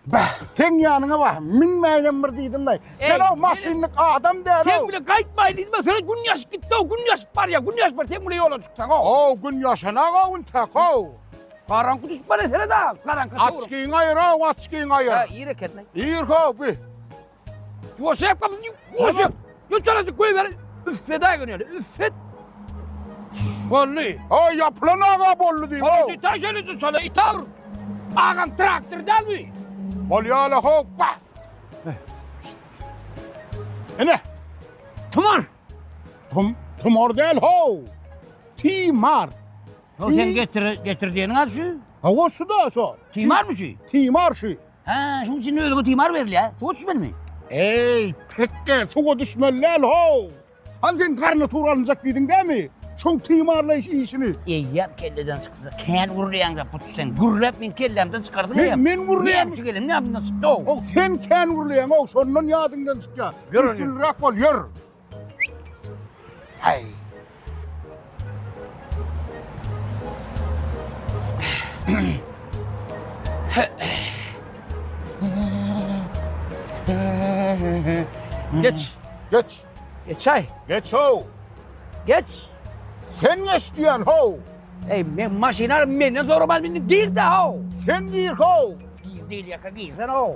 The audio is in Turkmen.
Bah, sen ýanyňa bah, minmäýem bir diýdimle. Sen o maşynlyk adam däl. Sen bile gaýtmaý diýdimle, sen gün ýaşyp gitdi, o gün ýaşyp barýa, gün ýaşyp bar, sen bile ýola çyksaň o. O gün ýaşana o gün tak o. Garaňky düşüp bar esere da, garaňky. Açkyň aýyr o, açkyň aýyr. Ha, ir eken. Ir ho, bi. Ýoşep kapyny ýoşep. Ýoçalasy goý ber. Üffet aý gün ýöne. Üffet. Bolly. Ha ýapylan aga bolly diýip. Şol ýiti şol ýiti şol ýiti awr. Agam traktor däl mi? Bolýala hoppa. Ene. Tumar. Tum tumar däl ho. Timar. Şol sen getir getir diýeniň ady şu. Ha o şu da şo. Timarmy şu? Timar şu. Hä, şuň üçin ölüge timar berilýär. Suwa düşmelimi? Eý, tekge, suwa düşmeli däl, how! Hany sen garnitur alynjak diýdiň dämi? Şoň timarlaýyş işini. Eýýäm kelleden çykdy. Kän gürleýäň zat puç sen. Gürläp meň kellämden çykardyň eýýäm. Men gürleýän. Näme üçin geldim ýadymdan çykdy, how! How, sen kän gürleýäň, how, şondan ýadyňdan çykýar. Ýör, ýör. Üstünliräk bol, ýör. Haý. Geç. Geç. Geçay. Geç ho. Geç. Sen geç diyen ho. Ey men maşina menden soramaz meni gir de ho. Sen gir ho. Gir değil yaka girsen ho.